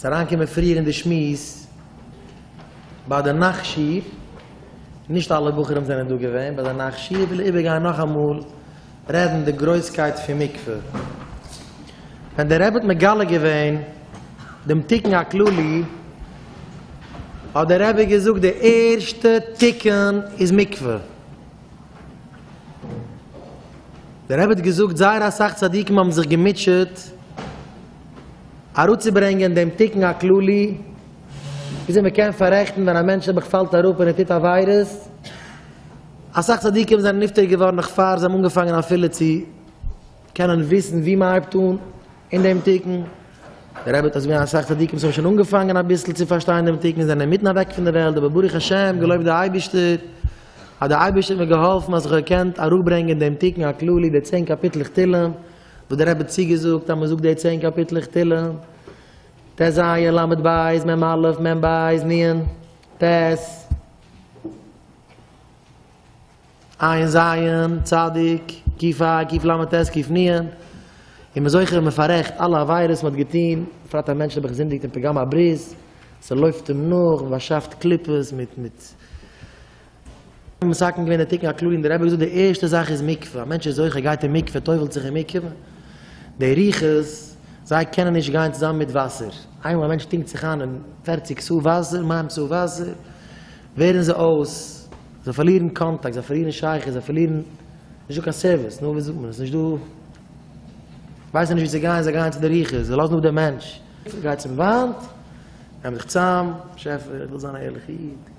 אריינקומען פריער אין די שמועס ביי די נאכט שיעור, נישט אלע בחורים זענען דא געווען ביי די נאכט שיעור, וויל איך איבערגיין נאכאמאל רעדן די גרויסקייט פון מקווה, ווען דער רבי האט מגלה געווען דעם תיקון הכללי, האט דער רבי געזאגט די ערשטע תיקון איז מקווה, דער רבי האט געזאגט זייער אסאך צדיקים האבן זיך געמוטשעט אראפצוברענגען דעם תיקון הכללי, וויאזוי מען קען פאררעכטן ווען א מענטש נעבעך פאלט אראפ און ער טוט עבירות. אסאך צדיקים זענען נפטר געווארן נאך פאר זיי האבן אנגעפאנגען אפילו צו קענען וויסן וואו מען הייבט אן אין דעם תיקון. דער רבי האט אויך זעהן אז אסאך צדיקים וואס האבן שוין אנגעפאנגען אביסל צו פארשטיין דעם תיקון זענען אינמיטן אוועק פון דער וועלט, אבער ברוך השם, געלויבט די אייבערשטער, אז דער אייבערשטער האט מיר געהאלפן אז איך האב געקענט אראפברענגען דעם תיקון הכללי, די צען קאפיטלעך תהלים. וואס דער רבי האט צוגעזאגט אז מען זאגט די צען קאפיטלעך תהלים, ט ז, ל ב, מ א, מ ב, נ ט, עיין ז, צ ק ה, ק ל ט, ק נ, און מען איז זוכה ווען מען פאררעכט אלע עבירות מען האט געטון, בפרט א מענטש האט געזינדיגט אין פגם הברית, ס'לויפט אים נאך, מען באשאפט קליפות מיט מיט. מסכם געווען די תיקון הכללי און דער רבי האט געזאגט די ערשטע זאך איז מקווה, א מענטש איז זוכה גייט אין מקווה טובל'ט זיך אין מקווה, די רוחות זיי קענען נישט גיין צוזאמען מיט וואסער, איינמאל א מענטש טונקט זיך איין אין פֿערציק ס' וואסער, מים ס' וואסער, ווערן זיי אויס, זיי פארלירן קאנטאקט, זיי פארלירן שייכות, זיי פארלירן, נישטא קיין סערוויס, נו ווי זאגט מען עס, נישטא, ווייסן נישט ווי צו גיין, זיי גייען צו די רוחות, זיי לאזן אפ דעם מענטש, גייט צום וואנט, נעמט זיך צוזאם, באשעפער איך וויל זיין א ערליכע איד.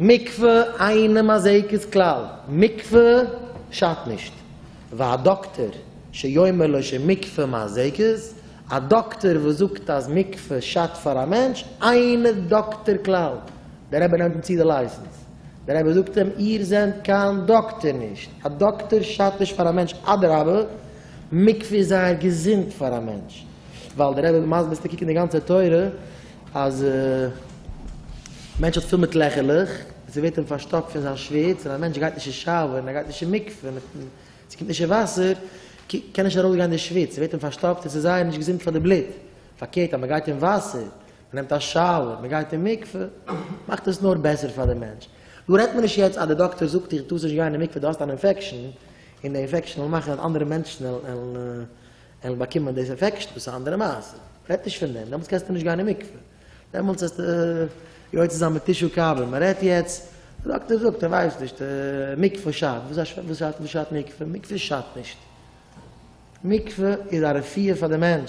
מקווה אינעם אזעקת כלל, מקווה שאדט נישט, וואו א דאקטער שיאמר לו שמקווה מזיקת, א דאקטער וואס זאגט אז מקווה שאדט פאר א מענטש, אינו דאקטער כלל, דער רבי נעמט אים צו די לייסענס, דער רבי זאגט אים איר זענט קיין דאקטער נישט, א דאקטער שאדט נישט פאר א מענטש, אדרבה מקווה איז זייער געזונט פאר א מענטש, ווייל דער רבי מסביר צו קוקן די גאנצע תורה, אז מענטש האט פיל מיט לעכערלעך, און ס'ווערט אים פארשטאפט פון זיין שוויץ, און א מענטש גייט נישט אין שאוער, און ער גייט נישט אין מקווה, מיט און ס'קומט נישט אין וואסער, קען נישט ארויסגיין די שוויץ, ס'ווערט אים פארשטאפט און ס'איז זייער נישט געזונט פאר די בלוט. פארקערט אז מ'גייט אין וואסער, מ'נעמט א שאוער, מ'גייט אין מקווה, מאכט עס נאר בעסער פאר די מענטש. דא רעדט מען נישט יעצט אז די דאקטער זאגט דיר דו טארסט נישט גיין אין מקווה, דו האסט אן אינפעקשאן, און די אינפעקשאן וועל מאכן אז אנדערע מענטשן וועלן. ענדליך באקומען דאס עפעקשן, דאס איז א אנדערע מעשה, רעדט נישט פון דעם, דעמאלטס קענסטו נישט גיין אין מקווה, דעמאלטס האסטו יוצא זיין מיט טישו קאווע, מען רעדט יעצט, דער דאקטער זאגט ער ווייסט נישט, מקווה שאדט, וואס שאדט מקווה? מקווה שאדט נישט, מקווה איז א רפואה פאר די מענטש,